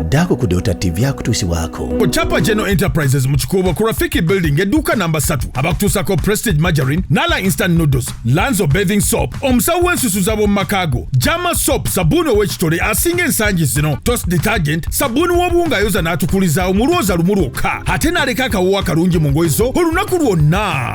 daako ku dota tv akutuusibwako ku chapa general enterprises mu kikuubo ku rafiki building edduuka namba 3 abakutuusako prestige margarine nala instant noodles lanzo bathing soap omusawo w'ensusu z'ab'omu maka go jama soap sabuuni ow'ekitole asinga ensangi zino tos detergent sabuuni w'obuwunga ayoza n'atukulizaawo mulwoza lumu lwokka ate n'aleka akawoowo akalungi mu ngoye zo olunaku lwonna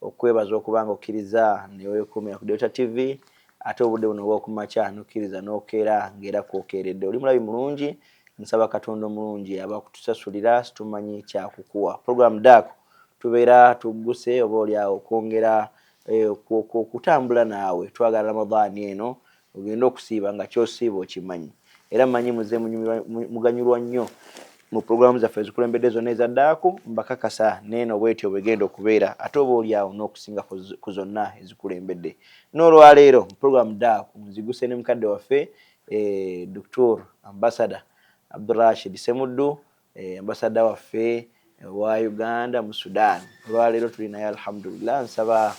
okukwebaza okuba nga okkirizza newekuumira ku Delta TV ate obudde buno obwokumakya nokkiriza nokeera nga era kwokeeredde. Oli mulabi mulungi, nsaba Katonda omulungi aba akutusasulira situmanyi kyakukuwa. Program Dak tubeera tugguse oba oli awo okwongera okutambula naawe. Twagala Ramadhan eno Ogenda okusiiba nga ky'osiiba okimanyi era mmanyi muzze munyumirwa muganyulwa nnyo mu pulogulaamu zaffe ezikulembedde zonna eza daaku mbakakasa n'eno bw'etyo bw'egenda okubeera ate oba oli awo n'okusinga ku zonna ezikulembedde. N'olwa leero mu pulogulaamu daaku nziguse ne mukadde waffe Doktor Ambasada Abdul Rashid Ssemuddu Eh, ambasada waffe wa Uganda mu Sudan olwaleero tuli naye alhamdulillah, nsaba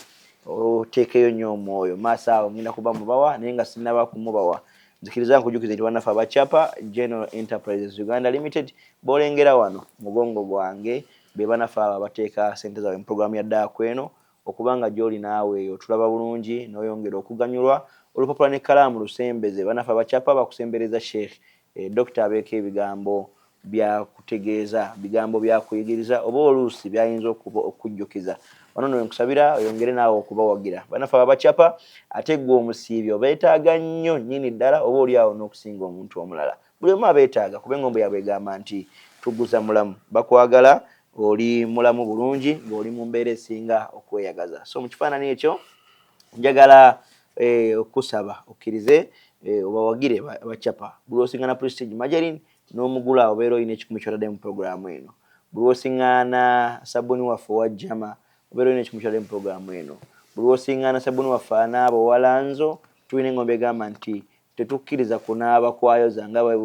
oteekeyo nnyo omwoyo maaso awo ngenda kuba mubawa naye nga sinaba kumubawa nzikiriza nkujukize nti banafe abacapa General Enterprises Uganda Limited bolengera wano mugongo gwange bebanafe abo abateeka sente zaabwe mu program ya daa kweno Okuba nga gy'oli naawe eyo otulaba bulungi n'oyongera okuganyulwa. Olupapula n'ekkalaamu lusembeze bannaffe abakyapa bakusembereza Sheikh eh, Dokita abeeko ebigambo by'akutegeeza, bigambo by'akuyigiriza oba oluusi by'ayinza okuba okukujjukiza. Wano nno we nkusabira oyongere naawe okubawagira bannaffe abo abakyapa ate ggwe omusiibi obeetaaga nnyo nnyini ddala oba oli awo n'okusinga omuntu omulala. Buli omu abeetaaga kuba engombo yaabwe egamba nti Tuguza mulamu. Bakwagala oli mulamu bulungi ng'oli mu mbeera esinga okweyagaza. So mu kifaanani ekyo njagala eh, okusaba okkirize eh, obawagire ba, ba Chapa. Buli osingana Prestige Margarine n'omugula obeera olina ekikumi ky'otadde mu pulogulaamu eno. Buli osingana sabbuuni waffe owa Jama obeera olina ekikumi ky'otadde mu pulogulaamu eno. Buli osingana sabbuuni waffe anaaba owa Lanzo tulina engombo egamba nti Tetukkiriza kunaaba kwayoza nga bwe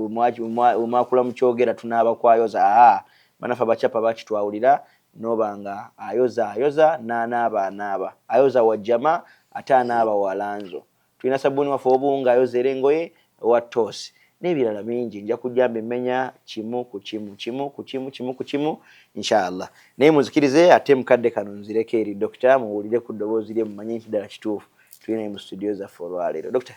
mwakula mukyogera tunaaba kwayoza haa banaffe abacapa bakitwawulira noba nga ayoza ayoza nanaaba anaaba ayoza wa jama ate anaaba wa lanzo tulina sabuni waffe wobunga ayoza era engoye owa toss nebirala bingi nja kujja mbimenya kimu ku kimu kimu ku kimu kimu ku kimu inshallah naye munzikirize ate mukadde kano nzireko eri doctor muwulire ku ddoboozi lye mumanye nti ddala kituufu tuli naye mu studio zaffe olwaleero doctor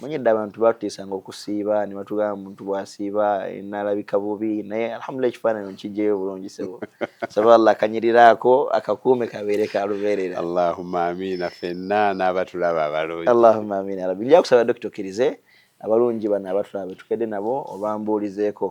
manye dda abantu batutiisanga okusiiba ne batugamba muntu bw'asiiba nalabika bubi naye alhamdulillah ekifaananyi nkijjeyo bulungi sebo saba allah akanyirira ako akakuume kabeere ka lubeerera allahumma amiina fenna n'abatulaba abalungi allahumma amiina rabbi nja kusaba dokita okkirize abalungi bano abatulaba betukedde nabo obambuulizeeko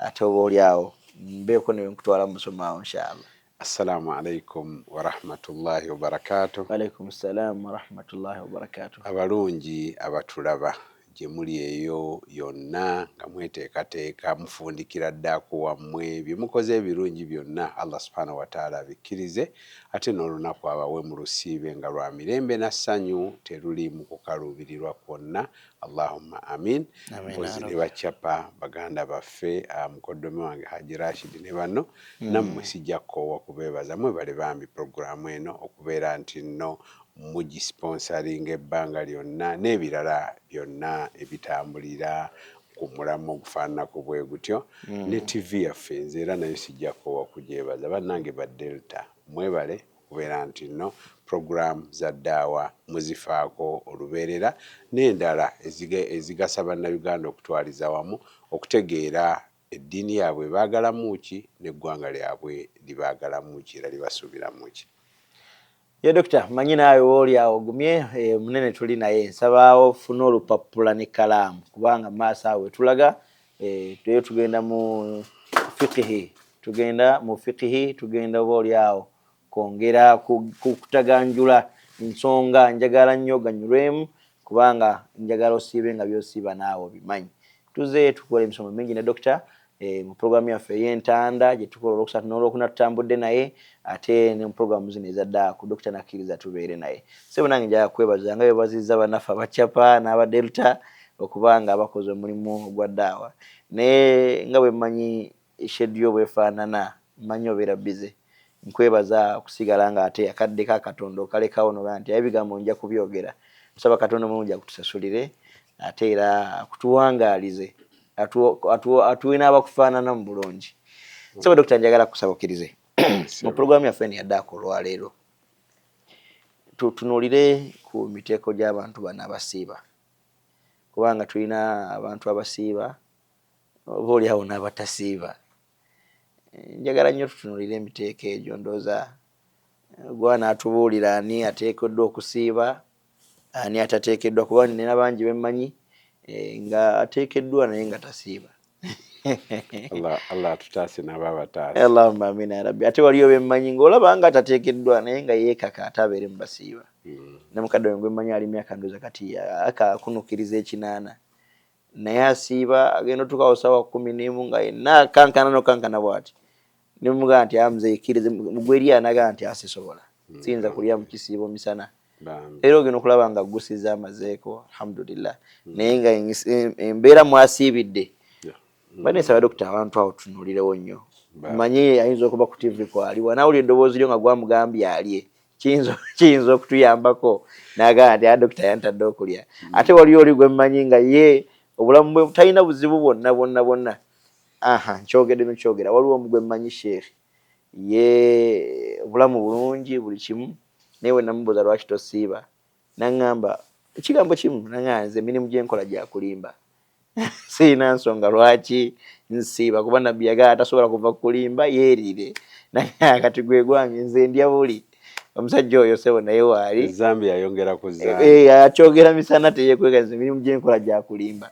ate oba oli awo mbeeko ne nkutwala mu musomo awo inshallah Assalamu alaikum warahmatullahi wabarakatuh. Walaikum salam warahmatullahi wabarakatuh. Abalungi abatulaba gye muli eyo yonna nga mweteekateeka mufundikira ddaaku wammwe bye mukoze ebirungi byonna Allah subhanahu wa taala abikkirize ate n'olunaku abawe mu lusiibe nga lwa mirembe na ssanyu teruliimu kukaluubirirwa kwonna Allahumma amin. Mpozi ne bacapa baganda baffe ah, mukoddomi wange Haji Rashid ne banno mm. nammwe sijja kukoowa kubeebaza mwebale bambi programu eno okubeera nti nno mugisponsaringa ebbanga lyonna n'ebirala byonna ebitambulira ku mulamwa ogufaananako bwe gutyo mm. ne ttivi yaffe nze era nayo sijja kukoowa kugyebaza bannange ba Delta mwebale okubeera nti no program za Ddaawa muzifaako olubeerera n'endala ezigasa Bannayuganda okutwaliza wamu okutegeera eddiini yaabwe ebaagalamu ki n'eggwanga lyabwe libaagalamu ki era libasuubiramu ki. Ye Dokita mmanyi naawe wooli awo ogumye munene tuli naye nsaba ofune olupappula n'ekkalaamu kubanga mu maaso awo we tulaga Eh, tuyo tugenda mu fikihi tugenda mu fikihi tugenda oba olyawo kwongera kukutaganjula nsonga njagala nnyo ganyulwemu kubanga njagala osiibe nga byosiiba naawe obimanyi tuze tukola emisomo mingi ne dokita eh, mu puroguramu yaffe ey'entanda gye tukola olwokusatu n'olwokuna tutambudde naye ate ne mu puroguramu zino ezaddaaku dokita nakkiriza tubeere naye sebo nange njaga kwebaza nga bebaziza banaffe abacapa n'abadelta okuba nga bakoze omulimu ogwa daawa naye nga bwemmanyi schedule yo bwefaanana mmanyi obeera busy, nkwebaza okusigala nga ate akadde ka Katonda okalekawo nogamba nti aye ebigambo nja kubyogera, tusaba Katonda omulungi akutusasulire ate era akutuwangaalize atuwe n'abakufaanana mu bulungi. Ssebo Dokita njagala kukusaba okkirize mu pulogulaamu yaffe eno yaddaako olwaleero tutunuulire ku miteeko gy'abantu bano abasiiba. kubanga tulina abantu abasiiba oba oli awo n'abatasiiba njagala nnyo tutunulire emiteeko egyo ndooza gwa n'atubuulira ani ateekeddwa okusiiba ani atateekeddwa kuba nina bangi bemmanyi eh, nga ateekeddwa naye nga tasiiba Allah Allah atutaase nabo abataase. Allahumma amin ya rabbi. Ate waliyo be mmanyi ng'olaba nga tateekeddwa naye nga yeekaka ate abeere mu basiiba. Hmm. Ne mukadde wange gwe mmanyi ali myaka ndooza kati akakunukiriza ekinaana naye asiiba agenda otuuka awo ssaawa kkumi n'emu nga yenna akankana n'okankana bw'ati. ne mugamba nti aya mzee kirize mugweri anaga nti asisobola mm. siyinza kulya mukisiibo misana era ogenda okulaba nga gusiza amazeeko alhamdulillah mm. naye nga embeera mwasiibidde mm. banesaba dokita abantu awo tunulirewo nnyo manye ayinza okuba ku tv kwali wanawuli eddoboozi lyo nga gwamugambye alye kiyinza okutuyambako nagamba nti a ah, dokita yantadde okulya ate waliyo oli gwemmanyi nga ye obulamu bwe talina buzibu bwonna bwonna bwonna Aha nkyogedde nokyogera waliwo omu gwemmanyi sheikh ye obulamu bulungi buli kimu naye wenamubuuza lwaki tosiiba nangamba ekigambo kimu nangamba nze emirimu gyenkola gyakulimba sirina nsonga lwaki nsiiba kuba nabbi yagala tasobola kuva kulimba yeerire naye kati gwe gwange nze ndya buli omusajja oyo sebo naye waali zambi yayongera ku zambi eh, eh, akyogera misana teyekweka nze emirimu gyenkola gyakulimba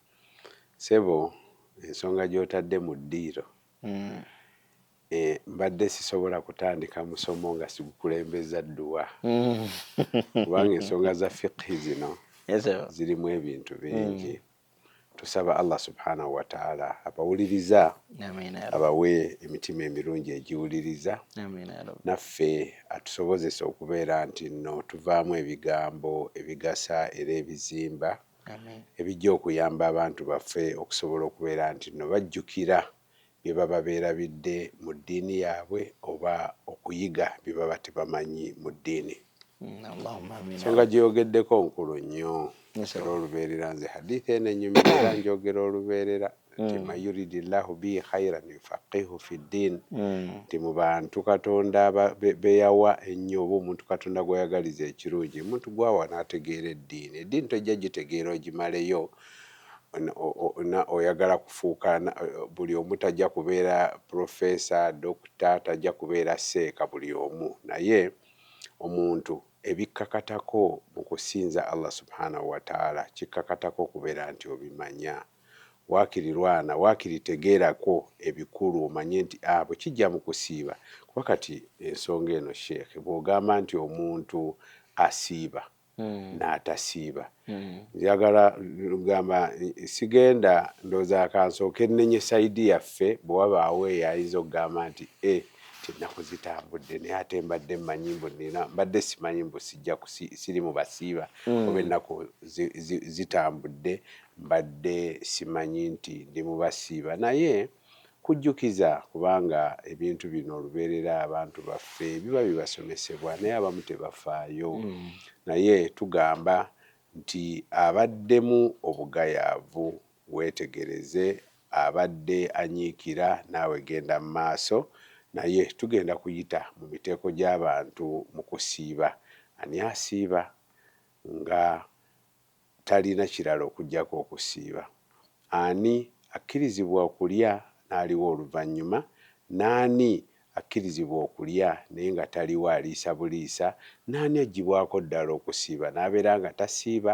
Ssebo ensonga gy'otadde mu ddiiro, mbadde sisobola kutandika musomo nga sigukulembezza dduwa kubanga ensonga za fiqhi zino zirimu ebintu bingi. Tusaba Allah Subhanahu wa Ta'ala abawuliriza abawe emitima emirungi egiwuliriza naffe atusobozese okubeera nti nno tuvaamu ebigambo ebigasa era ebizimba. ebijja okuyamba abantu baffe okusobola okubeera nti nno bajjukira bye baba beerabidde mu ddiini yaabwe oba okuyiga bye baba tebamanyi mu ddiini. Ensonga gye yogeddeko nkulu nnyo era olubeerera nze hadiith eno enyumira era njogera olubeerera. nti mm. mayuridi llahu bihi khairan yufaqihu fi ddin mm. nti mu bantu katonda beyawa ennyo oba omuntu katonda gweyagaliza ekirungi omuntu gwawa nategeera eddiini eddiini tojja gitegeera ogimaleyo oyagala kufuuka buli omu tajja kubeera profesa dokita tajja kubeera seeka buli omu naye omuntu ebikkakatako mu kusinza allah subhanahu wataala kikkakatako okubeera nti obimanya Waakiri lwana, waakiri tegeerako ebikulu omanye nti a bwe kijja mu kusiiba. Kuba kati ensonga eno Sheikh bw'ogamba nti omuntu asiiba n'atasiiba, njagala gamba sigenda ndowooza ka nsooke nnenye sayidi yaffe bwe wabaawo eyo ayinza okugamba nti e nti ennaku zitambudde naye ate mbadde mmanyi mbu nnina mbadde simanyi mbu sijja siri mu basiiba oba ennaku zitambudde Mbadde simanyi nti ndi mu basiiba naye kujjukiza kubanga ebintu bino olubeerera abantu baffe biba bibasomesebwa naye abamu tebafaayo naye tugamba nti abaddemu obugayaavu weetegereze abadde anyiikira naawe genda mu maaso naye tugenda kuyita mu miteeko gy'abantu mu kusiiba. Ani asiiba nga talina kirala okuggyako okusiiba. Ani akkirizibwa okulya n'aliwa oluvannyuma, n'ani akkirizibwa okulya naye nga taliwa aliisa buliisa, n'ani aggyibwako ddala okusiiba n'abeera nga tasiiba,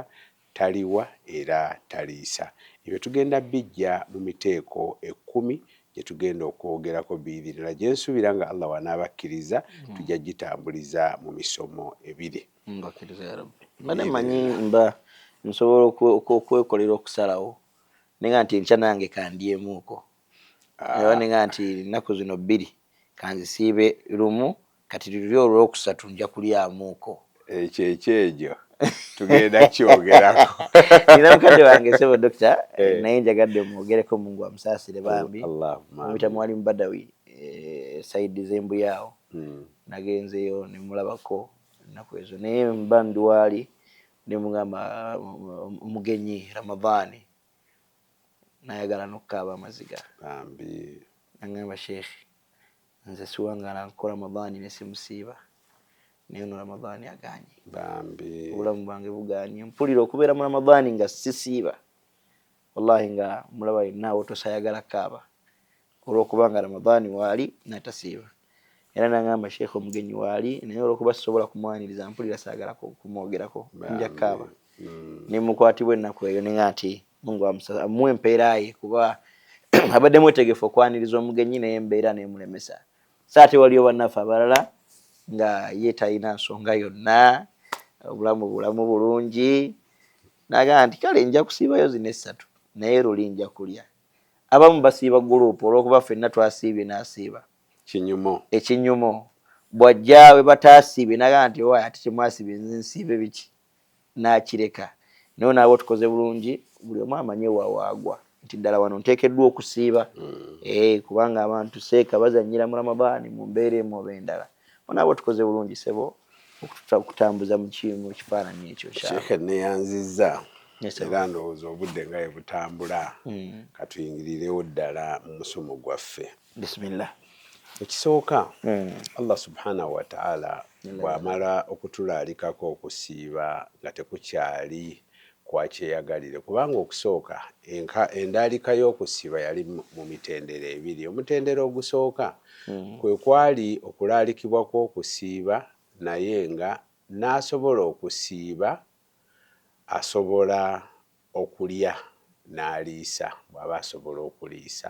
taliwa era taliisa? Ebyo tugenda bbiggya mu miteeko ekkumi gye tugenda okwogerako biidhinillah gye nsuubira nga Allah w'anaaba akkiriza tujja gitambuliza mu misomo ebiri. mbakiriza ya rabbi mbadde manyi mba nsobola okwekolera okusalawo nenga nti enkya nange kandyemuuko ah. era nenga nti ennaku zino bbiri kanzisiibe lumu kati luli olwokusatu nja kulyamuuko ekyo ekyejo tugenda kyogerako nina mukadde wange sebo dokita eh. naye njagadde mwogereko mungu amusaasire bambi mubita mwali mubadawi eh, saidi zembuyaawo hmm. nagenzeyo nemulabako ennaku ezo naye mba ndi waali ne mugamba omugenyi ramadaani nayagala nokukaaba amaziga bambi nangamba sheikh nze siwangala nko ramadaani nesimusiiba naye ono ramadaani aganye bambi obulamu bwange buganye mpulira okubeera mu ramadaani nga sisiiba wallahi nga mulaba yenna awotosa ayagala kaaba olwokuba nga ramadhani waali natasiiba era nangamba sheikh omugenyi waali naye olwokuba sisobola kumwaniriza mpulira saagala kumwogerako njakkaaba mm. nemukwatibwa ennaku eyo nenga nti mungu amuwe empeera ye kuba abadde mwetegefu okwaniriza omugenyi naye embeera nemulemesa so ate waliyo bannaffe abalala nga ye talina nsonga yonna obulamu bulamu bulungi nagamba nti kale nja kusiibayo zino essatu naye luli nja kulya abamu basiiba guluupu olw'okuba ffenna twasiibye n'asiiba kinyumo ekinyumo bw'ajja we bataasiibye n'agamba nti owaaye ate temwasiibye nze nsiibe biki n'akireka naye onaaba otukoze bulungi buli omu amanye wa waagwa nti ddala wano nteekeddwa okusiiba mm. eh, kubanga abantu seeka bazannyira mu ramadaani mu mbeera emu oba endala onaaba otukoze bulungi sebo okutambuza mukimu ekifaananyi ekyo sheekhe neyanziza era ndowooza obudde nga ye butambula hmm. katuyingirirewo ddala mu musomo gwaffe bisimillah ekisooka hmm. allah subhanahu wataala bwamala okutulaalikako okusiiba nga tekukyali kwa kyeyagalire kubanga okusooka enka endaalika y'okusiba yali mu mitendera ebiri. Omutendera ogusooka mm. kwe kwali okulaalikibwa kw'okusiiba naye nga n'asobola okusiiba asobola okulya n'aliisa bw'aba asobola okuliisa.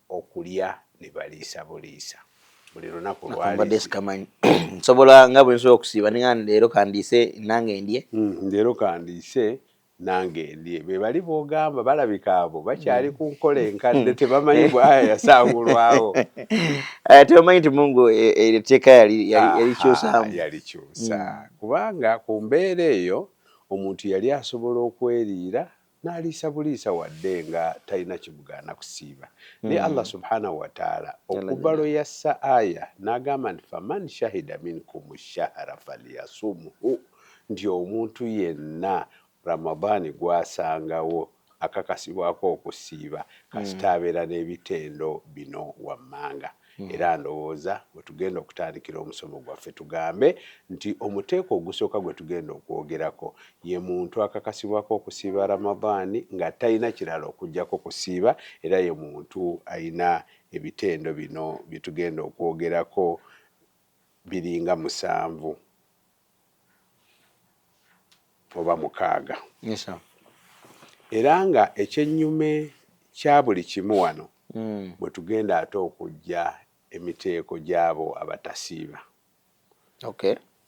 okulya ne baliisa buliisa buli lunaku lwabadde sikamanyi nsobola nga bwe nsobola okusiiba ninga leero kandiise nange ndye hmm, leero kandiise nange ndye be bali b'ogamba balabika abo bakyali hmm. ku nkola enkadde tebamanyi bwaya yasangulwawo eh, tebamanyi nti mungu eh, eh, etteeka yalikyusamu yalikyusa hmm. kubanga ku mbeera eyo omuntu yali asobola okweriira n'aliisa buliisa wadde nga talina kimugaana kusiiba naye hmm. Allah subhanahu wataala okuva lwe yassa aya n'agamba nti faman shahida minkum shahara falyasumhu nti omuntu yenna ramadaani gwasangawo akakasibwako okusiiba kasita hmm. abeera n'ebitendo bino wammanga Hmm. era ndowooza we tugenda okutandikira omusomo gwaffe tugambe nti omuteeko ogusooka gwe tugenda okwogerako ye muntu akakasibwako okusiiba ramadaani nga talina kirala okugyako kusiiba era ye muntu alina ebitendo bino bye tugenda okwogerako biringa musanvu oba mukaaga era nga ekyennyume kya buli kimu wano hmm. bwe tugenda ate okujja emiteeko gy'abo abatasiiba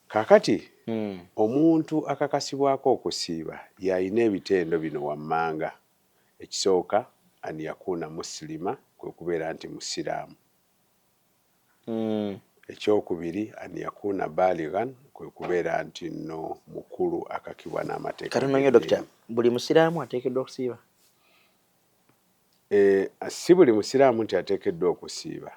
kakati hmm. omuntu akakasibwako okusiiba y'alina ebitendo bino wammanga ekisooka an yakuuna musilima kwe kubeera nti musiraamu Eky'okubiri, an yakuuna baalighan, kwe kubeera nti nno mukulu akakibwa n'amateeka g'eddiini. Kati nno nnyo Dokita, buli Musiraamu ateekeddwa okusiiba? Eh, si buli Musiraamu nti ateekeddwa okusiiba,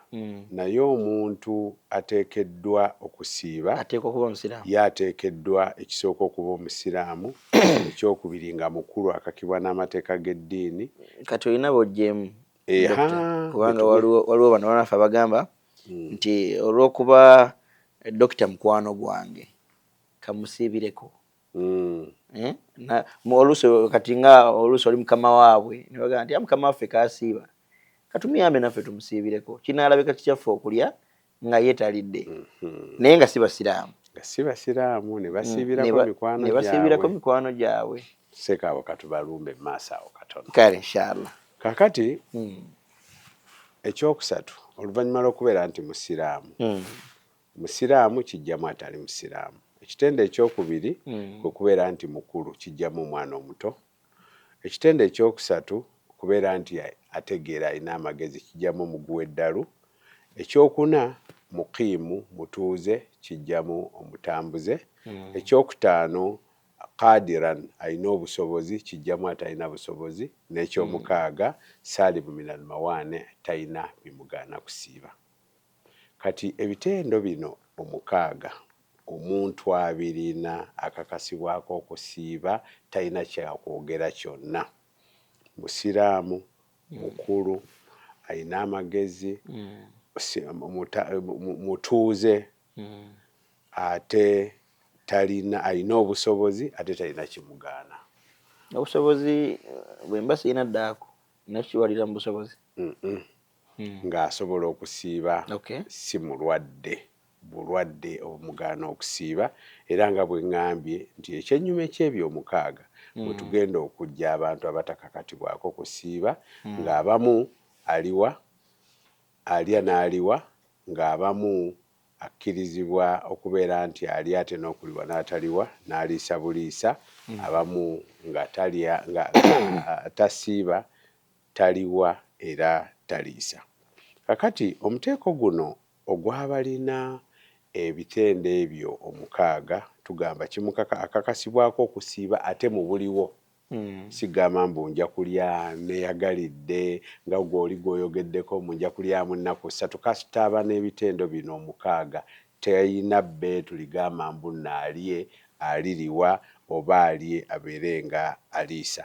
naye omuntu ateekeddwa okusiiba, ateekwa okuba Omusiraamu, ye ateekeddwa ekisooka okuba Omusiraamu, eky'okubiri nga mukulu akakibwa n'amateeka g'eddiini. Kati olina b'oggyeemu kubanga waliwo bano banafe abagamba hmm. nti olwokuba dokita mukwano gwange kamusiibireko hmm. eh? oluusi kati nga oluusi oli mukama waabwe nebagamba nti ah, mukama waffe kasiiba katumuyambe naffe tumusiibireko kinaalabika kikyaffe okulya nga ye talidde mhm. naye nga si basiraamu nga si basiraamu ne mm, basiibirako mikwano gyabwe ne basiibirako mikwano gyabwe seeka abo katubalumbe mu maaso awo katono kale inshallah kakati mm. ekyokusatu oluvannyuma lw'okubeera nti musiraamu mm. musiraamu kijjamu atali musiraamu ekitendo ekyokubiri mm. kwe kubeera nti mukulu kijjamu omwana omuto Ekitendo eky'okusatu, okubeera nti ategeera alina amagezi kiggyamu omuguwa eddalu. Eky'okuna, muqiimu, mutuuze, kiggyamu omutambuze. Eky'okutaano, qaadiran, alina obusobozi, kiggyamu atalina busobozi. N'eky'omukaaga, saalimu minal mawaane, talina bimugaana kusiiba. Kati ebitendo bino omukaaga omuntu abirina akakasibwako okusiiba talina kyakwogera kyonna. Musiraamu, mukulu, alina amagezi, mutuuze ate talina alina obusobozi ate talina kimugaana. Obusobozi bwemba sirina ddaako nina kukiwalira mu busobozi? hmm. ng'asobola okusiiba si mulwadde bulwadde obumugaana okusiiba era nga bwe ŋŋambye nti ekyennyuma eky'ebyomukaaga hmm. we tugenda okujja abantu abatakakatibwako kusiiba hmm. ng'abamu aliwa alya n'aliwa ng'abamu akkirizibwa okubeera nti ali ate n'okuliwa n'ataliwa n'aliisa buliisa abamu nga talya nga tasiiba Taliwa era taliisa. Kakati omuteeko guno ogw'abalina ebitendo ebyo omukaaga tugamba kimukaka akakasibwako okusiiba ate mu buliwo. Si gamba mbu nja kulya nneyagalidde nga gwe oli gw'oyogeddeko mbu nja kulyamu nnaku ssatu kasita aba n'ebitendo bino omukaaga talina bbeetu ligamba mbu naalye, aliriwa oba alye abeere nga aliisa.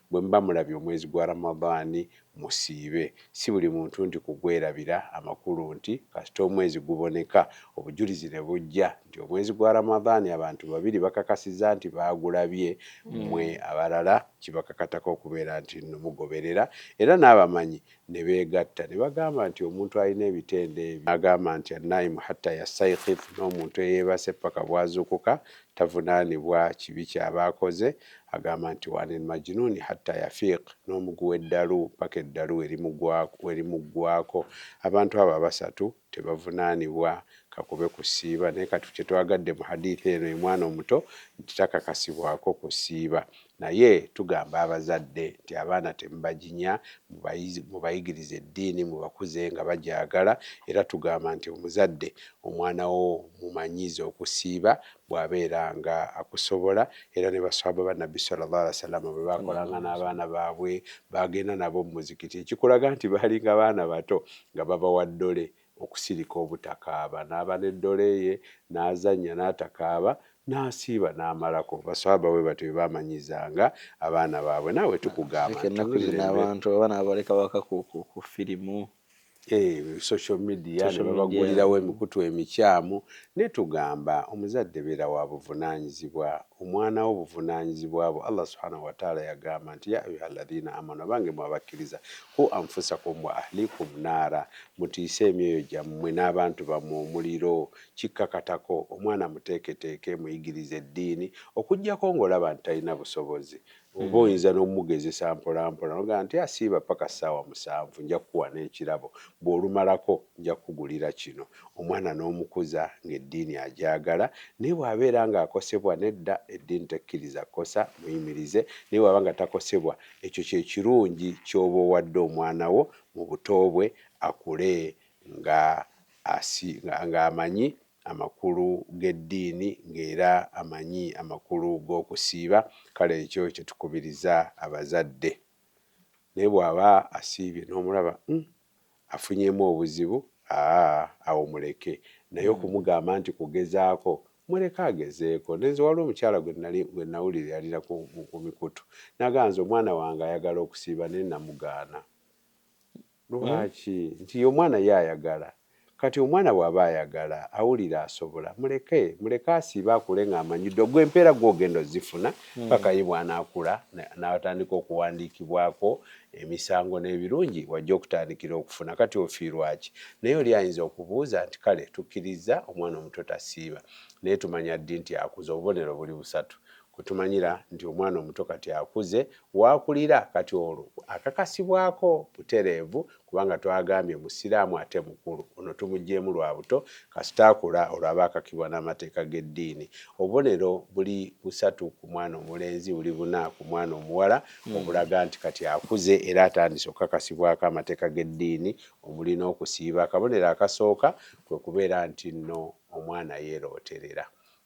Bwe muba mulabye omwezi gwa Ramadhan musiibe, si buli muntu nti kugwerabira, amakulu nti kasita omwezi guboneka obujulizi ne bujja nti omwezi gwa Ramadhan abantu babiri bakakasizza nti baagulabye mmwe abalala kibakakatako okubeera nti nno mugoberera era n'abamanyi ne beegatta ne bagamba nti omuntu alina ebitendo ebyo n'agamba nti annaimu hatta yastayqidh n'omuntu eyeebase paka bw'azuukuka tavunaanibwa kibi ky'aba akoze, agamba nti wa anil majnuuni hatta yafiiq n'omugu w'eddalu paka eddalu we limuggwaako, abantu abo abasatu. tebavunanibwa kakube kusiiba naye kati kyetwagadde mu hadith eno ye mwana omuto nti takakasibwako kusiiba naye tugamba abazadde nti abaana temubajinya mubayigirize eddiini mubakuze nga bagyagala era tugamba nti omuzadde omwanawo mumanyiize okusiiba bw'abeera nga akusobola, era ne Basswaba ba Nabbi swalla Llaahu alaihi wasallam bwe baakolanga n'abaana baabwe, baagenda nabo mu muzikiti, ekikulaga nti baalinga baana bato nga babawa ddole okusirika obutakaaba, n'aba ne ddole ye, n'azannya n'atakaaba, n'asiiba n'amalako, Basswaba bwe batyo bwe baamanyizanga abaana baabwe, naawe tukugamba nti. Ffenna ku zino abantu abaana babaleka waka ku firimu. Eh, social media ne babagulirawo emikutu emikyamu naye tugamba omuzadde beera wa buvunaanyizibwa omwana wo buvunaanyizibwa bwo allah subhanahu wataala yagamba nti ya ayuha alladhina amanu abange mwe abakkiriza ku anfusakum wa ahlikum naara mutiise emyoyo gyammwe n'abantu bammwe omuliro kikkakatako omwana muteeketeeke muyigirize eddiini okuggyako ng'olaba nti talina busobozi oba hmm. oyinza n'omugezesa mpolampola nogaa nti asiiba ah, paka ssaawa musanvu nja kukuwa n'ekirabo bw'olumalako nja kukugulira kino omwana n'omukuza ng'eddiini agyagala naye bw'abeera ng'akosebwa nedda eddiini tekkiriza kosa muyimirize naye bw'aba nga takosebwa ekyo kye kirungi ky'oba owadde omwana wo mu buto bwe akule nga asi ng'amanyi amakulu g'eddiini ng'era amanyi amakulu g'okusiiba kale ekyo kye tukubiriza abazadde. Naye bw'aba asiibye n'omulaba uhm afunyeemu obuzibu aa awo muleke naye okumugamba nti kugezaako muleke agezeeko. Ne nze waliwo omukyala gwe nnali gwe nnawuliralira ku ku mikutu n'agamba nze omwana wange ayagala okusiiba naye namugaana. Lwaki? Hmm? Nti omwana ye ayagala. Kati omwana bw'aba ayagala, awulira asobola, muleke, muleke asiibe akule ng'amanyi ddo. Gwe empeera gwe ogenda ozifuna hmm. paka ye bw'anaakula n'atandika okuwandiikibwako emisango n'ebirungi wajja okutandikira okufuna. Kati ofiirwaki? Naye oli ayinza okubuuza nti kale tukkirizza omwana omuto tasiiba naye tumanya ddi nti akuze? Obubonero buli busatu. Kwetumanyira nti omwana omuto kati akuze waakulira kati olwo akakasibwako butereevu kubanga twagambye musiraamu ate mukulu ono tumugyeemu lwa buto kasita akula olwo aba akakibwa n'amateeka g'eddiini obubonero buli busatu ku mwana omulenzi buli buna ku mwana omuwala hmm. obulaga nti kati akuze era atandise okukakasibwako amateeka g'eddiini omuli n'okusiiba akabonero akasooka kwe kubeera nti nno omwana yeerooterera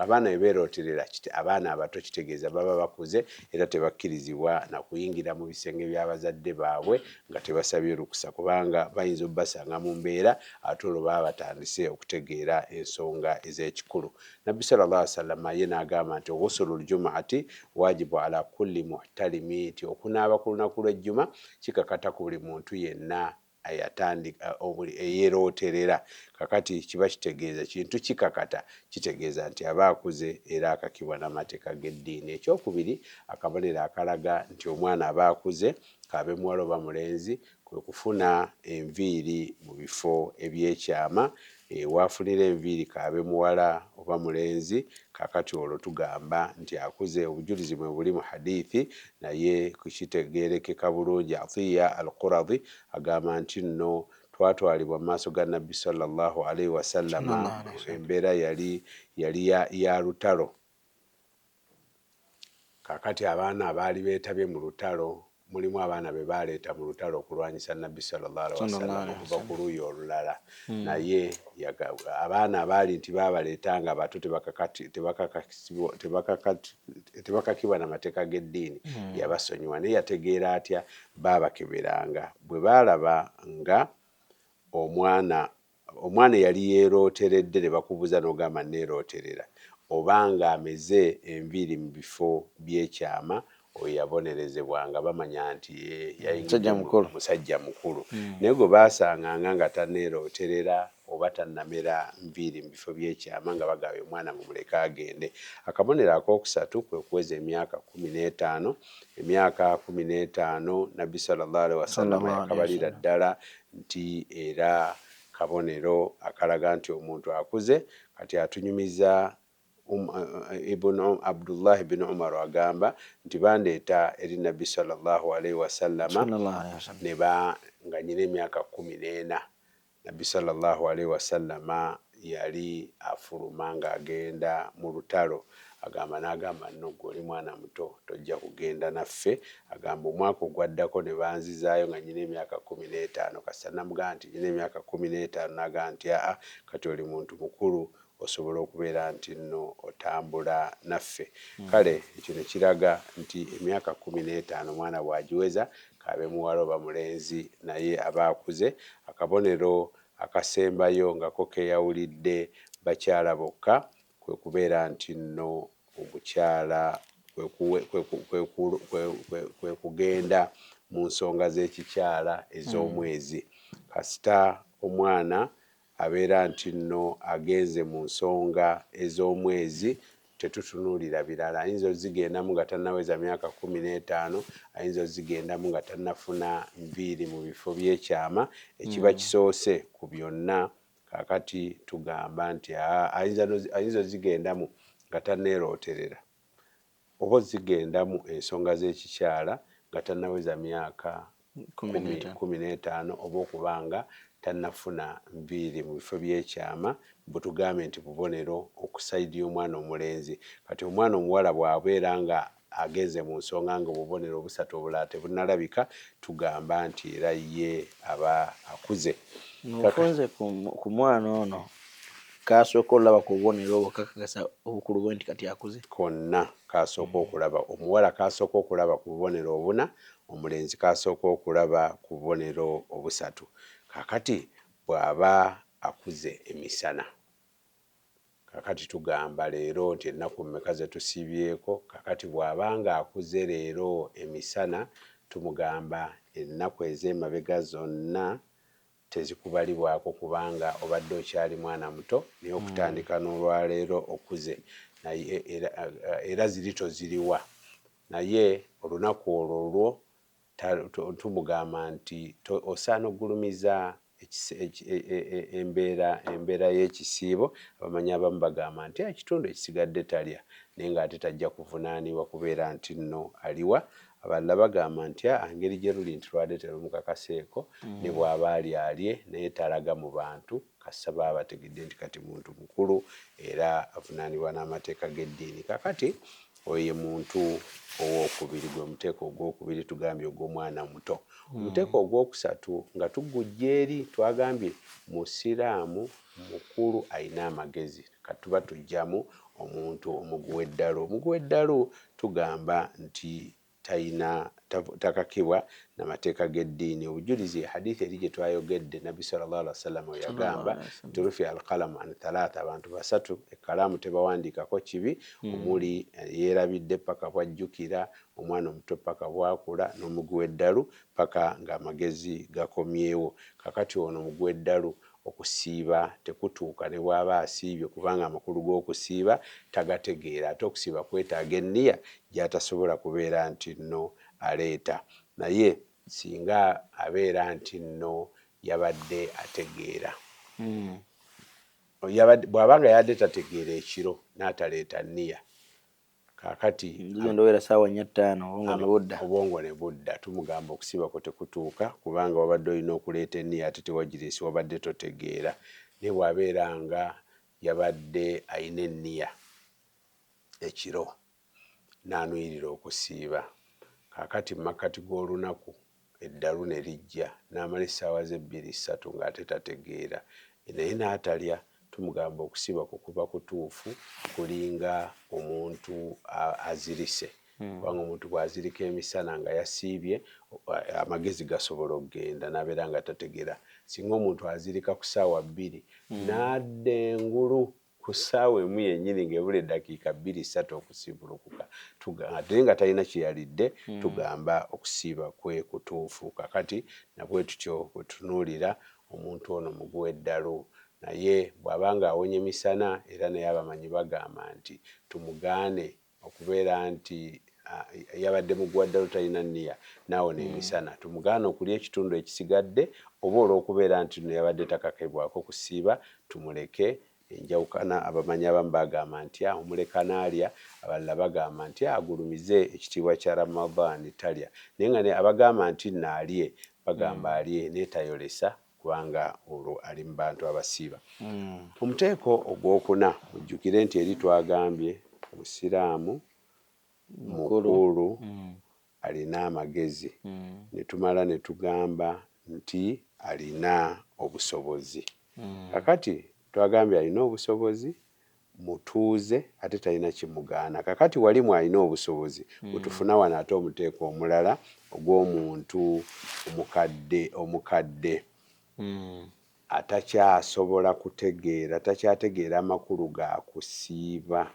Abaana bwe beerooterera kiti abaana abato kitegeeza baba bakuze era tebakkirizibwa na kuyingira mu bisenge bya bazadde baabwe nga tebasabye lukusa kubanga bayinza obasanga mu mbeera ate olwo baba batandise okutegeera ensonga ez'ekikulu. Nabbi sala llah wasallama ye n'agamba nti ghusulu ljumaati wajibu ala kulli muhtalimi nti okunaaba ku lunaku lw'ejjuma kikakata ku buli muntu yenna ayatandika obuli eyerooterera kakati kiba kitegeeza kintu ki kakata? Kitegeeza nti aba akuze era akakibwa n'amateeka g'eddiini. Ekyokubiri, akabonero akalaga nti omwana aba akuze, k'abe muwala oba mulenzi, kwe kufuna enviiri mu bifo eby'ekyama Eeh wafunira enviiri kaabe muwala oba mulenzi kakati olwo tugamba nti akuze obujulizi mwebuli mu hadiithi naye kukitegeerekeka bulungi Atiya Al-Quradhi agamba ntinno twatwalibwa mu maaso ga Nabbi swalla Llaahu alaihi wasallama embeera yali yali ya lutalo Kaakati abaana abaali beetabye mu lutalo, mulimu abaana be baaleeta mu lutalo okulwanyisa Nnabbi sallallahu alaihi wasallam okuva ku luuyi olulala, hmm. naye abaana abaali nti baabaleeta nga bato tebakakibwa na mateeka g'eddiini, hmm. yabasonyiwa. Naye yategeera atya? Baabakeberanga bwe baalaba nga omwana Omwana eyali yeerooteredde ne bakubuuza n'ogamba nneerooterera oba ng'ameze enviiri mu bifo by'ekyama oyo yabonerezebwa nga bamanya nti yayingidde mu musajja mukulu. Naye gwe baasanganga nga tanneerooterera oba tannamera nviiri mu bifo by'ekyama nga bagabye omwana mumuleke agende. Akabonero akookusatu kwe kuweza emyaka kkumi n'etaano. Emyaka kkumi n'etaano Nnabbi, swalla Llaahu alaihi wasallama, yakabalira ddala nti era kabonero akalaga nti omuntu akuze kati atunyumiza um, uh, ibn um, abdullahi bin umaru agamba nti bandeeta eri nabbi salllahu alaihi wasallama neba nga nyina emyaka kumi n'ena nabbi salllahu alaihi wasallama yali afuluma ng'agenda mu lutalo, agamba n'agamba nno ggwe oli mwana muto tojja kugenda naffe, agamba omwaka ogwaddako ne banzizaayo nga nnyina emyaka kkumi n'etaano kasita namugamba nti nnyina emyaka kkumi n'etaano n'agamba nti aa kati oli muntu mukulu osobola okubeera nti nno otambula naffe, hmm. kale ekyo ne kiraga nti emyaka kkumi n'etaano omwana bw'agiweza k'abe muwala oba mulenzi naye aba akuze, akabonero Akasembayo nga ko keyawulidde bakyala bokka kwe kubeera nti nno omukyala kwe kugenda mu nsonga z'ekikyala ez'omwezi kasita omwana abeera nti nno agenze mu nsonga ez'omwezi tetutunuulira birala ayinza ozigendamu nga tanaweza myaka kumi n'etaano ayinza ozigendamu nga tanafuna nviiri mu bifo byekyama ekiba mm. kisoose ku byonna kakati tugamba nti ayinza ozigendamu nga taneerooterera oba ozigendamu ensonga z'ekikyala nga tanaweza myaka kumi n'etaano oba okuba nga tannafuna nviiri mu bifo by'ekyama mbu tugambe nti bubonero okusayidi y'omwana omulenzi kati omwana omuwala bw'abeera nga agenze mu nsonga nga obubonero obusatu obulala tebunnalabika tugamba nti era ye aba akuze nze ku mwana ono kasooka olaba ku bubonero obwo kakakasa obukulu bwe nti kati akuze konna kasooka okulaba omuwala kasooka okulaba ku bubonero obuna Omulenzi k'asooke okulaba ku bubonero obusatu. Kaakati bw'aba akuze emisana. Kaakati tugamba leero nti ennaku mmeka ze tusiibyeko? Kaakati bw'aba nga akuze leero emisana, tumugamba ennaku ez'emabega zonna tezikubalibwako kubanga obadde okyali mwana muto naye okutandika n'olwaleero okuze naye era, era ziri toziriwa naye olunaku olwo lwo tumugamba nti osaana okugulumiza embeera embeera y'ekisiibo abamanyi abamu bagamba nti ekitundu ekisigadde talya naye ng'ate tajja kuvunaanibwa kubeera nti nno aliwa Abalala bagamba nti a ngeri gye luli nti lwade telumukakaseeko ne bwaba alya alye naye talaga mu bantu kasita baba bategedde nti kati muntu mukulu era avunaanibwa n'amateeka g'eddiini. Kakati oyo ye muntu ow'okubiri, gwe muteeko ogw'okubiri tugambye ogw'omwana omuto. Omuteeko ogw'okusatu nga tugujja eri twagambye Musiraamu mukulu alina amagezi. Kati tuba tujjamu omuntu omuguwa eddalu. Omuguwa eddalu tugamba nti tayina takakibwa na mateeka g'eddiini obujulizi ye hadith eri gye twayogedde nabbi sallallahu alaihi wasallam we yagamba nti rufi alqalamu an thalatha abantu basatu ekkalaamu tebawandiikako kibi hmm. omuli eh, yeerabidde paka bwajjukira omwana omuto paka bwakula n'omuguwa eddalu paka ng'amagezi gakomyewo kakati ono omuguwa eddalu Okusiiba tekutuuka ne bw'aba asiibye kubanga amakulu g'okusiiba tagategeera. Ate okusiiba kwetaaga enniya gy'atasobola kubeera nti nno aleeta. Naye singa abeera nti nno yabadde ategeera. Bw'aba nga yabadde tategeera ekiro n'ataleeta nniya. kakati njuzo ndowera sawa nya tano obongo ne budda obongo ne budda tumugamba okusiba ko tekutuuka kubanga wabadde olina okuleeta eniya ate tewajiresi wabadde totegeera naye bwabeera nga yabadde ayina eniya ekiro nanuyirira okusiiba kakati makkati g'olunaku eddalu ne lijja n'amala essaawa ze bbiri ssatu ng'ate tategeera naye n'atalya tumugamba okusiiba kwo kuba kutuufu kulinga omuntu azirise hmm. kubanga omuntu bw'azirika emisana nga yasiibye amagezi gasobola okugenda n'abeera nga tategera singa omuntu azirika ku ssaawa bbiri hmm. n'adda engulu ku ssaawa emu yennyini ng'ebula eddakiika bbiri ssatu okusiibulukuka ate nga talina kye yalidde hmm. tugamba okusiiba kwe kutuufu kakati nabwe tutyo bwe tutunuulira omuntu ono muguwa eddalu naye bw'aba ng'awonye misana era naye abamanyi bagamba nti tumugaane okubeera nti yabadde muguwa ddala otalina nniya naawo n'emisana hmm. tumugaana okulya ekitundu ekisigadde oba olw'okubeera nti no yabadde takakebwako kusiiba tumuleke enjawukana abamanyi abamu bagamba nti ah, omuleka naalya abalala bagamba nti ah, agulumize ekitiibwa kya ramadan talya naye nga abagamba nti naalye bagamba hmm. alye naye tayolesa kubanga olwo ali mu bantu abasiiba. Omuteeko ogwokuna, mujjukire nti eri twagambye Musiraamu mukulu alina amagezi ne tumala ne tugamba nti alina obusobozi. Kaakati twagambye alina obusobozi. mutuuze ate talina kimugaana kakati wali mwalina obusobozi bwetufuna wano ate omuteeko omulala ogwomuntu omukadde omukadde atakyasobola kutegeera takyategeera makulu gakusiiba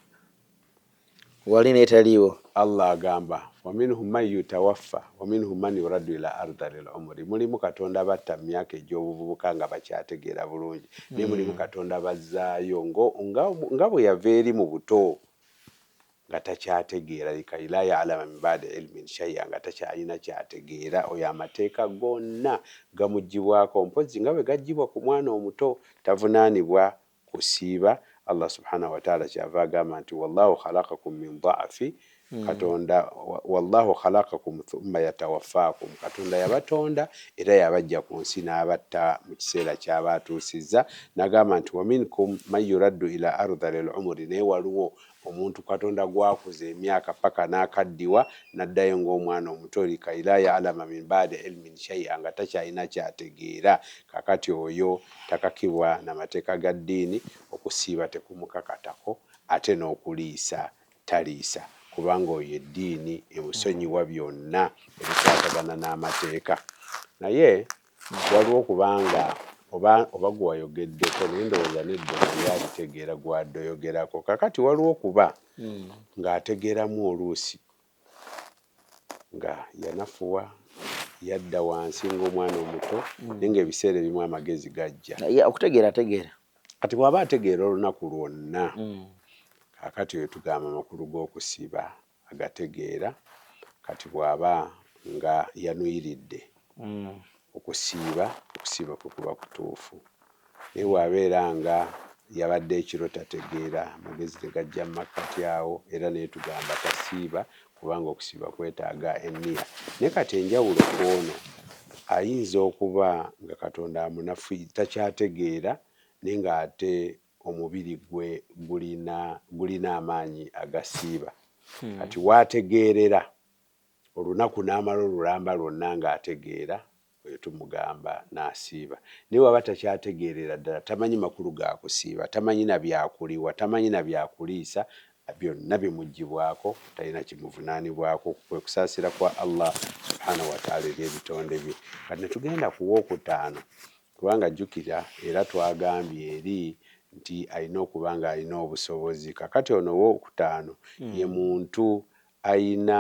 Wali n'etaliiwo. Allah agamba, Wa minhum man yutawaffa wa minhum man yuraddu ila ardhalil umuri, Mulimu Katonda batta mu myaka egy'obuvubuka nga bakyategeera bulungi, ne mulimu Katonda bazzaayo nga nga nga bwe yava eri mu buto nga takyategeera, likay laa ya'lama min ba'di ilmin shay'a, nga takyalina ky'ategeera. Oyo amateeka gonna gamuggyibwako, mpozzi nga bwe gaggyibwa ku mwana omuto, tavunaanibwa kusiiba, Allah subhana wataala kyava agamba nti wallahu khalaqakum min dha'fi katonda wallahu khalaqakum thumma yatawaffakum katonda yabatonda era yabajja kunsi nabatta mukiseera kyaba atuusizza nagamba nti waminkum man yuraddu ila ardhali lumuri naye waliwo Omuntu Katonda gw'akuza emyaka paka n'akaddiwa n'addayo ng'omwana omuto, likay laa ya'lama min ba'di ilmin shay'a, nga takyalina ky'ategeera, kaakati oyo takakibwa na mateeka ga ddiini, okusiiba tekumukakatako ate n'okuliisa taliisa kubanga oyo eddiini emusonyiwa byonna ebikwatagana n'amateeka. Naye Waliwo okubanga oba oba gwewayogeddeko naye ndowooza nedda naye abitegeera gwadoyogerako kakati waliwo okuba hmm. ng'ategeeramu oluusi nga yanafuwa yadda wansi ng'omwana omuto hmm. naye ng'ebiseera ebimu amagezi gajja okutegeera ategeera kati bw'aba ategeera olunaku lwonna hmm. kakati oyo tugamba amakulu g'okusiba agategeera kati bwaba nga yanuyiridde mm. okusiiba okusiiba kwe kuba kutuufu naye bwabeera nga yabadde ekiro tategeera magezi tegajja mumakkati awo era naye tugamba tasiiba kubanga okusiiba kwetaaga enniya naye kati enjawulo kwono ayinza okuba nga katonda amunafu takyategeera naye nga ate omubiri gwe gulina gulina amaanyi agasiiba hmm. kati waategeerera olunaku n'amala olulamba lwonna ng'ategeera oyo tumugamba n'asiiba naye waba takyategeerera ddala tamanyi makulu ga kusiiba tamanyi na byakuliwa tamanyi na byakuliisa byonna bimugibwako talina kimuvunaanibwako kwe kusaasira kwa allah subhanahu wataala eri ebitonde bye kati netugenda kuwa okutaano Kubanga jjukira, era twagambye eri nti alina okuba nga alina obusobozi. Kakati ono ow'okutaano ye muntu alina,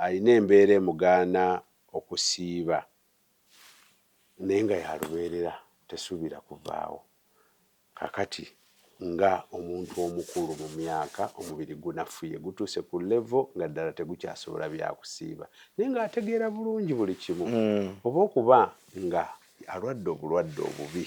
alina embeera emugaana okusiiba, naye nga ya lubeerera, tesuubira kuvaawo. Kakati nga omuntu omukulu mu myaka omubiri gunafuye gutuuse ku level nga ddala tegukyasobola byakusiiba naye nga ategeera bulungi buli kimu oba okuba nga alwadde obulwadde obubi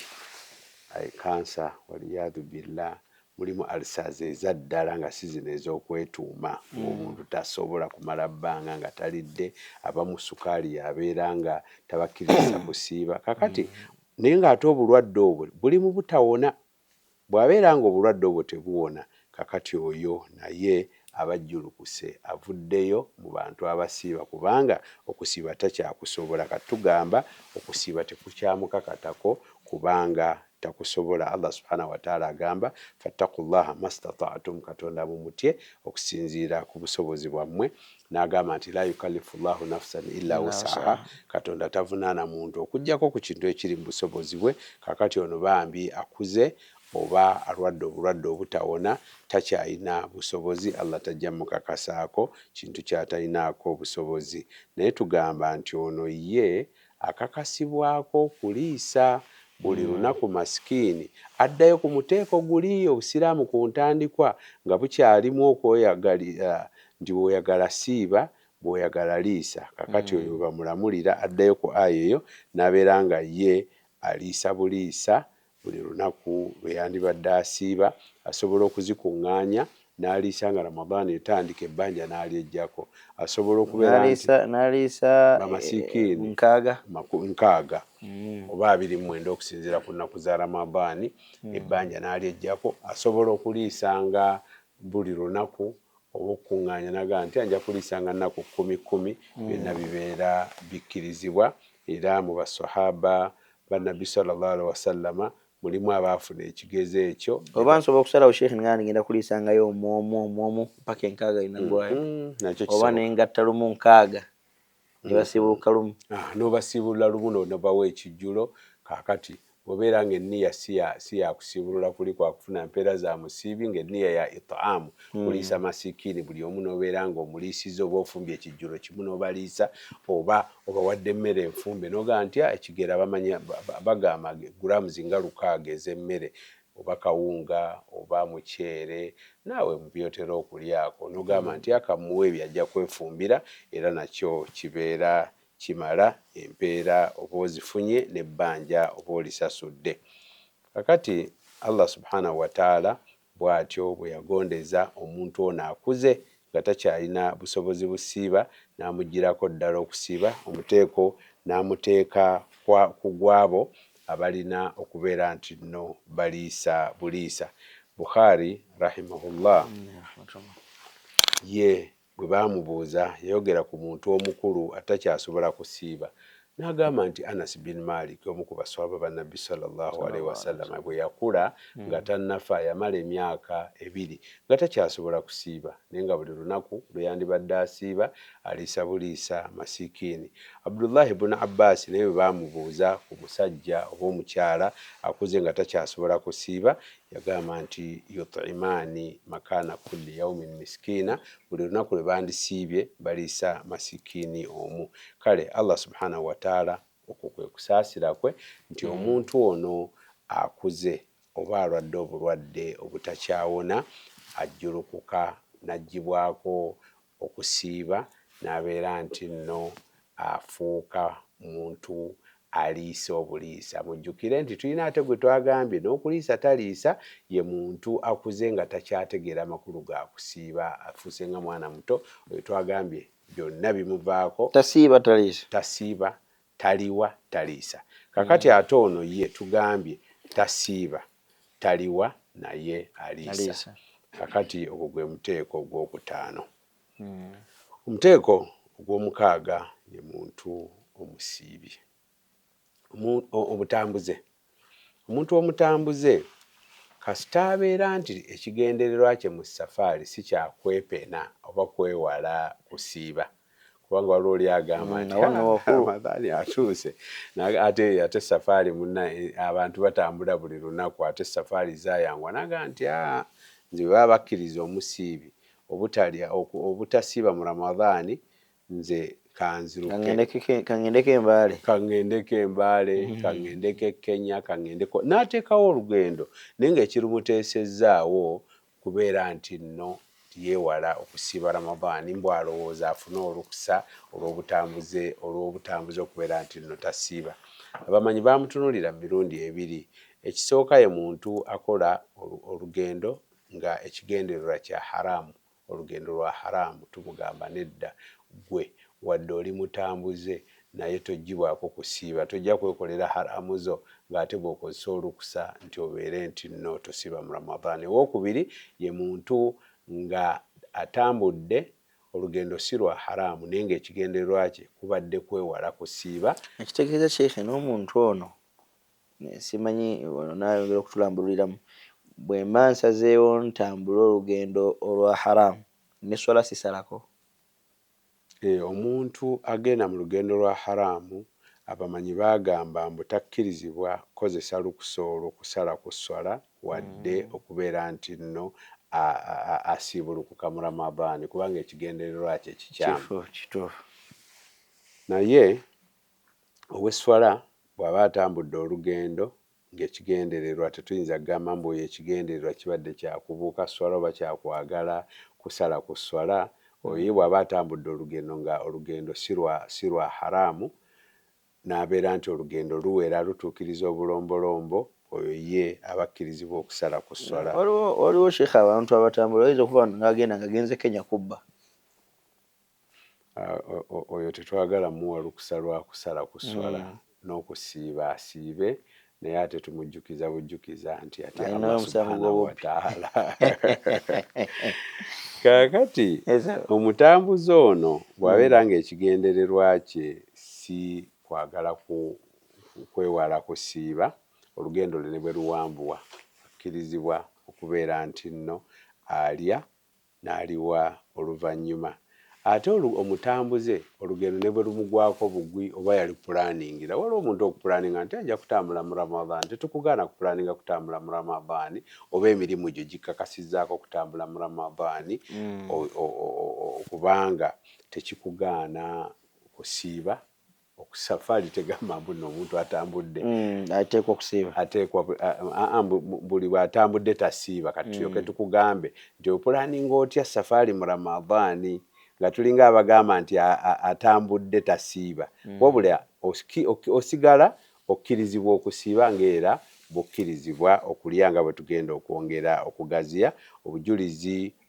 I cancer waliyadhu billah mulimu ulcers ezaddala nga si zino ezokwetuuma nga omuntu tasobola kumala bbanga nga talidde abamu sukaali yabeera nga tabakkirizisa kusiiba kakati Naye ng'ate obulwadde obwo buli mu butawona. Bw'abeera ng'obulwadde obwo tebuwona, kakati oyo naye aba ajjulukuse, avuddeyo mu bantu abasiiba kubanga okusiiba takyakusobola. Kati tugamba okusiiba tekukyamukakatako kubanga takusobola. Allah Subhana Wataala agamba, Fattaku Llaaha Mastata'tum, Katonda mumutye okusinziira ku busobozi bwammwe. n'agamba nti la yukallifu llahu nafusan illa wusaha katonda tavunaana muntu okugyako ku kintu ekiri mu busobozi bwe kakati ono bambi akuze oba alwadde obulwadde obutawona takyalina busobozi allah tajja mukakasaako kintu kyatalinaako busobozi naye tugamba nti ono ye akakasibwako okuliisa buli lunaku masikiini addayo ku muteeko guli Obusiraamu ku ntandikwa nga bukyalimu okweyagalira nti bw'oyagala siiba, bw'oyagala liisa. Kakati oyo bwe bamulamulira addayo ku aya eyo n'abeera nga ye aliisa buliisa Buli lunaku lwe yandibadde asiiba asobola okuzikuŋŋaanya n'aliisa nga Ramadhan etandika ebbanja n'alyeggyako. Asobola okubeera nti bamasikiini nkaaga oba abiri mu mwenda okusinziira ku nnaku za Ramadhan ebbanja n'alyeggyako. Asobola okuliisanga Buli lunaku oba okukuŋŋaanya n'agamba nti nja kuliisanga nnaku kkumi kkumi, hmm. byonna bibeera bikkirizibwa era mu baswahaba ba Nabbi sallallahu alaihi wasallama mulimu abaafuna ekigezo ekyo oba nsobola okusalawo sheikh nga nigenda kuliisangayo omwomu omwomu mpaka enkaaga inagwayo mm-hmm. oba nengatta lumu nkaaga nebasibuuka lumu ah, n'obasiibulula lumu n'onobawo ekijjulo kaakati bw'obeera ng'enniya si ya kusiibulula kuli kwa kufuna mpeera za musiibi ng'enniya ya itaamu hmm. kuliisa masikiini buli omu n'obeera ng'omuliisiza oba ofumbye ekijjulo kimu n'obaliisa oba obawadde emmere enfumbe n'ogaa nti ah, ekigera bamanya bagamba guraamuzi nga lukaaga ez'emmere oba kawunga oba muceere naawe mu by'otera okulyako n'ogamba mm. nti akamuwa ebyo ajja kwefumbira era nakyo kibeera kimala empeera oba ozifunye n'ebbanja oba olisasudde kakati allah subhanahu wataala bw'atyo bwe yagondeza omuntu ono akuze nga takyalina busobozi busiiba n'amuggyirako ddala okusiiba omuteeko n'amuteeka ku gwabo abalina okubeera nti nno baliisa buliisa. Bukhaari rahimahullah ye bwe baamubuuza yayogera ku muntu omukulu atakyasobola kusiiba n'agamba nti Anas bin Malik omu ku baswaba ba Nabbi sallallahu alaihi wasallam bwe yakula hmm. nga tannafa yamala emyaka ebiri nga takyasobola kusiiba naye nga buli lunaku lwe yandibadde asiiba Aliisa buliisa masiikiini. Abdullah ibn Abbaasi naye bwe baamubuuza ku musajja oba omukyala akuze nga takyasobola kusiiba, yagamba nti, Yut'imaani makaana kulli yaumin miskiina, buli lunaku lwe bandisiibye baliisa masiikiini omu. Kale Allah subhaanahu wa ta'ala okwo kwe kusaasira kwe nti hmm. omuntu ono akuze oba alwadde obulwadde obutakyawona ajjulukuka n'aggyibwako okusiiba n'abeera nti nno afuuka muntu aliisa obuliisa. Mujjukire nti tulina ate gwe twagambye n'okuliisa taliisa, ye muntu akuze nga takyategeera makulu ga kusiiba, afuuse nga mwana muto, oyo twagambye byonna bimuvaako. Tasiiba taliisa. Tasiiba taliwa taliisa kakati ate ono ye tugambye tasiiba taliwa naye aliisa kakati ogwo gwe muteeko ogwokutaano omuteeko ogwomukaaga ye muntu omusiibye obutambuze Omuntu omutambuze kasita abeera nti ekigendererwa kye mu safaali si kya kwepena oba kwewala kusiiba kubanga waliwo oli agamba nti Ramadhani atuuse ate ate safaali munna abantu batambula buli lunaku ate safaali zayangwa naga nti aa nze bwe baba bakkiriza omusiibi obutalya obutasiiba mu Ramadhani nze kanzirukekangedeko embaale kangedeko embaale mm-hmm. kangedeko ekenya kangedeko n'ateekawo olugendo naye nga ekirumuteesezzaawo kubeera nti nno yeewala okusiiba ramadaani mbw alowooza afune olukusa olwobutambuze olw'obutambuze okubeera nti nno tasiiba abamanyi bamutunulira mu mirundi ebiri ekisooka ye muntu akola olugendo nga ekigendererwa kya haramu Olugendo lwa haramu tumugamba nedda gwe wadde oli mutambuze naye tojjibwako kusiiba tojja kwekolera haramu zo nga ate bwokozesa olukusa nti obeere nti no tosiiba mu Ramadhan owokubiri ye muntu nga atambudde olugendo si lwa haramu naye nga ekigendererwa kye kubadde kwewala kusiiba ekitegeeza sheikh nomuntu ono simanyi wano nayongera okutulambululiramu bwemba nsazeewo ntambule olugendo olwa haram ne swala sisalako? Eeh omuntu agenda mu lugendo lwa haram abamanyi bagamba mbu takkirizibwa kukozesa lukusa olwo kusala ku swala wadde okubeera nti nno asiibulukuka mu ramadhan kubanga ekigendererwa kye kikyamu. Kituufu kituufu. Naye. Ow'esswala bw'aba atambudde olugendo ng'ekigendererwa tetuyinza kugamba mbu oyo ekigendererwa kibadde kya kubuuka sswala oba kya kwagala kusala ku sswala, oyo ye bw'aba atambudde olugendo nga olugendo si lwa si lwa haraamu n'abeera nti olugendo luwera lutuukiriza obulombolombo, oyo ye aba akkirizibwa okusala ku sswala. Waliwo waliwo sheikh abantu abatambula oyinza okuba ng'agenda ng'agenze Kenya kubba. oyo tetwagala muwa lukusa lwa kusala ku sswala mm. n'okusiiba asiibe naye ate tumujjukiza bujjukiza nti ate Allah subhanahu wa ta'ala kaakati omutambuzi ono bw'abeera mm. ng'ekigendererwa kye si kwagala kwewala kusiiba olugendo lwe ne bwe luwambuwa akkirizibwa okubeera nti nno alya n'aliwa oluvannyuma. Ate olu, omutambuze, olugendo ne bwe lumugwako bugwi oba yalupulaaningira. Waliwo omuntu okupulaaninga nti, Nja kutambula mu Ramadhan. Tetukugaana kupulaaninga kutambula mu Ramadhan, oba emirimu gyo gikukakasizzaako okutambula mu Ramadhan, o, o, o, o, o, kubanga tekikugaana kusiiba. Oku safari tegamba mbu no omuntu atambudde ateekwa okusiiba ateekwa aa mbu buli bwatambudde tasiiba kati tulyoke tukugambe nti opulaninga otya safari mu ramadhani nga tulinga abagamba nti atambudde tasiiba wabula osigala okkirizibwa okusiiba nga era bwokkirizibwa okulya nga bwetugenda okwongera okugaziya obujulizi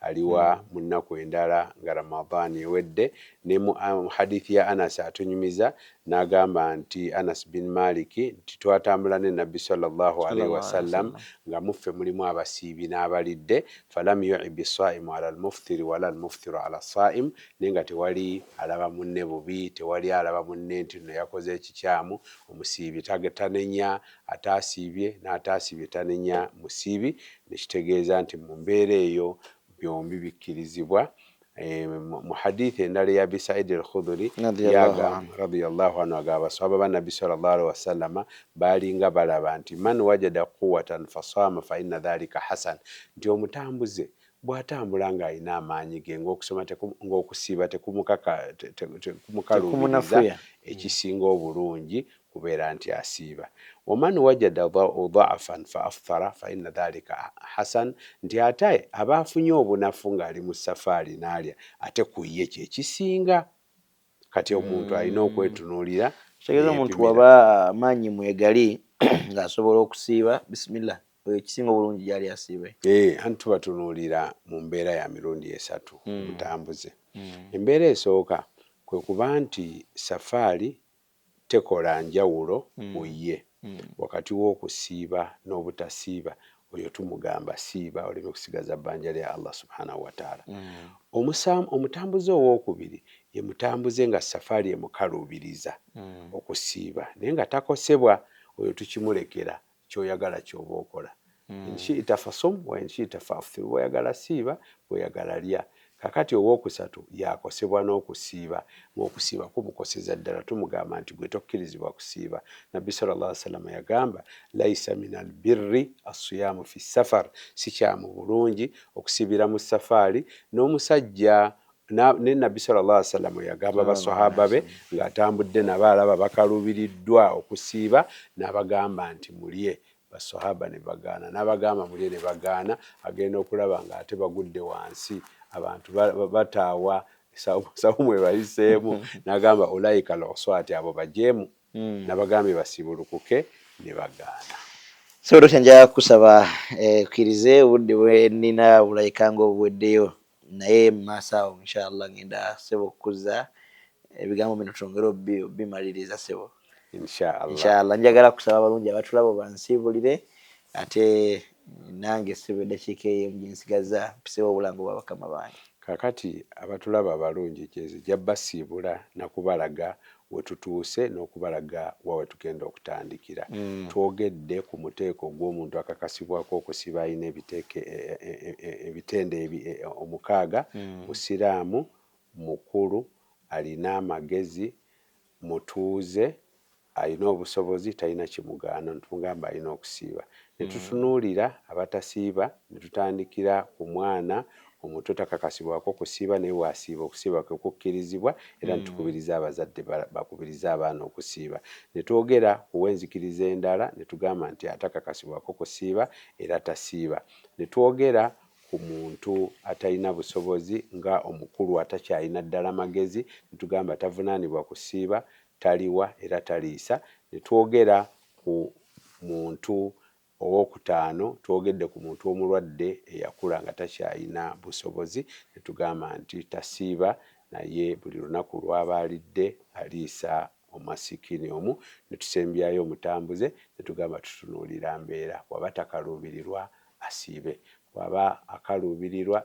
aliwa hmm. mu nnaku endala nga ramadaani ewedde ne mu um, hadithi ya anasi atunyumiza n'agamba nti anas bin maliki nti twatambula ne nabbi salllahu alaihi wasallam nga muffe mulimu abasiibi n'abalidde falam yuibi saimu ala almuftiri wala almuftiru ala saim naye nga tewali alaba munne bubi tewali alaba munne nti no yakoze ekikyamu omusiibi tanenya Ataasiibye n'ataasiibye tanenya musiibi ne kitegeeza nti mu mbeera eyo byombi bikkirizibwa. Mu hadiith endala eya Abi Said al-Khudhuri radiyallahu anhu agamba baswahaba ba Nabbi sallallahu alaihi wasallama baalinga balaba nti man wajada quwwatan fasaama fa inna dhalika hasan, nti omutambuze bw'atambula ng'alina amaanyi ge ng'okusoma ng'okusiiba tekumukalubiriza ekisinga obulungi kubeera nti asiiba, waman wajada dha'afan fa afthara fa inna dhalika hasan, nti ate aba afunye obunafu nga ali mu safaali naalya ate ku yye kye kisinga. Kati omuntu alina okwetunuulira Ekitegeeza omuntu bwaba amaanyi mwegali nga asobola okusiiba, bismillah oyo ekisinga obulungi gyali asiibe. Eeh anti tubatunuulira mu mbeera ya mirundi esatu omutambuze. Embeera esooka kwe kuba nti safaali tekola njawulo mu ye wakati w'okusiiba n'obutasiiba, oyo tumugamba siiba oleme kusigaza bbanja lya Allah subhaanahu wataala. Omusaam, omutambuze ow'okubiri, ye mutambuze nga safaari emukaluubiriza okusiiba naye nga takosebwa, oyo tukimulekera kyoyagala kyoba okola mm. inshita fasum wa inshita faftir bwoyagala siiba bwoyagala lya kakati owokusatu yakosebwa n'okusiiba ng'okusiiba kumukoseza ddala tumugamba nti gwe tokkirizibwa kusiiba nabbi sallallah salama yagamba laisa min al birri assiyaamu fi safar sikyamu bulungi okusiibira mu safaari n'omusajja ne nabbi sallallahu alaihi wasallam yagamba baswahaba be ng'atambudde nabo alaba bakalubiriddwa okusiiba n'abagamba nti mulye baswahaba ne bagaana n'abagamba mulye ne bagaana agenda okulaba ng'ate bagudde wansi abantu bataawa sawumu ebayiseemu n'agamba ulaika loswati abo bajeemu hmm. nabagambye basiibulukuke ne bagaana so dokita nja kusaba eh, okkirize obudde bwe nnina bulaikanga obuweddeyo naye mumaaso awo inshallah ngenda sebo okukuza ebigambo bino twongere obimaliriza sebo inshallah inshallah njagala kusaba abalungi abatulaba obansiibulire ate nange sebo eddakiika eyo gyensigaza mpisewo obulango bwa bakama bange kakati abatulaba abalungi gyenzija basiibula nakubalaga we tutuuse n'okubalaga wa we tugenda okutandikira. Twogedde ku muteeko ogw'omuntu akakasibwako okusiba alina ebiteeke e, e, e, e, ebitendo ebi, e, e, omukaaga, Musiraamu, mukulu, alina amagezi, mutuuze, alina obusobozi, talina kimugaana, ne tumugamba alina okusiiba. Ne tutunuulira abatasiiba ne tutandikira ku mwana Omuto takakasibwako kusiiba naye w'asiiba okusiiba kwe kukkirizibwa era ne tukubiriza abazadde bakubirize abaana okusiiba. Ne twogera ku w'enzikiriza endala ne tugamba nti atakakasibwako kusiiba era tasiiba. Ne twogera ku muntu atalina busobozi nga omukulu atakyalina ddala magezi ne tugamba tavunaanibwa kusiiba, taliwa era taliisa. Ne twogera ku muntu Ow'okutaano, twogedde ku muntu omulwadde eyakula nga takyalina busobozi ne tugamba nti tasiiba naye buli lunaku lw'aba alidde aliisa omwasikiini omu ne tusembyayo omutambuze ne tugamba tutunuulira mbeera bw'aba takaluubirirwa asiibe, bw'aba akaluubirirwa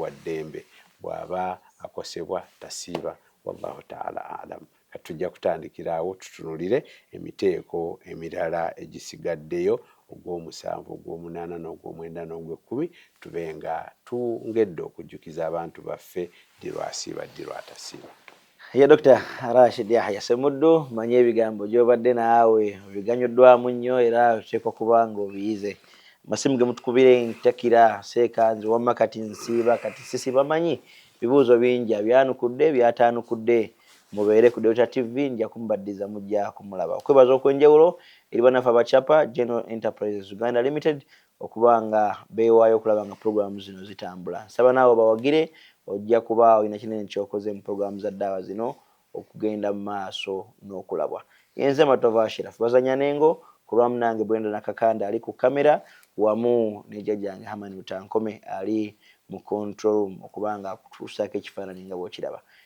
wa ddembe, bw'aba akosebwa tasiiba, Wallaahu Ta'ala A'lam. Kati tujja kutandikira awo tutunulire emiteeko emirala egisigaddeyo ogw'omusanvu, ogw'omunaana, n'ogw'omwenda n'ogw'ekkumi, tube nga twngedde okujjukiza abantu baffe ddi lw'asiiba ddi lw'atasiiba. Ye Dokita Rashid Yahya Ssemuddu, mmanyi ebigambo gy'obadde naawe obiganyuddwamu nnyo era oteekwa kuba ng'obiyize. Amasimu ge mutukubira entakira seeka nze wamma kati nsiiba kati sisiiba manyi bibuuzo bingi abyanukudde by'ataanukudde. Mubeere ku Dota TV nja kumubaddiza mujja kumulaba. Okwebaza okwenjawulo eri bannaffe aba Chapa General Enterprises Uganda Limited okuba nga beewaayo okulaba nga pulogulaamu zino zitambula. Nsaba naawe obawagire ojja kuba olina kinene ky'okoze mu pulogulaamu za ddaawa zino okugenda mu maaso n'okulabwa. Yenze Matovu Ashiraf Bazanya n'Engo ku lwa munange Brenda Nakakande ali ku kkamera wamu ne jjajjange Herman Rutankome ali mu control room okuba nga akutuusaako ekifaananyi nga bw'okiraba.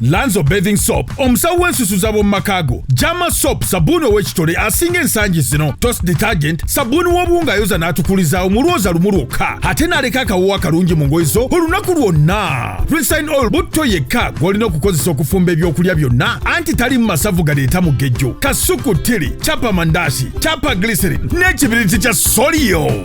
lanzo bathing soap omusawo w'ensusu z'ab'omu maka go jama soap sabbuuni ow'ekitole asinga ensangi zino tos detergent sabbuuni w'obuwunga ayoza n'atukulizaawo mu lwoza lumu lwokka ate n'aleka akawoowo akalungi mu ngoye zo olunaku lwonna resign oil butto yekka gw'olina okukozesa okufumba ebyokulya byonna anti talimu masavu galeeta mugejjo kasuku tiri capa mandasi capa glycerin n'ekibiriti kya soliyo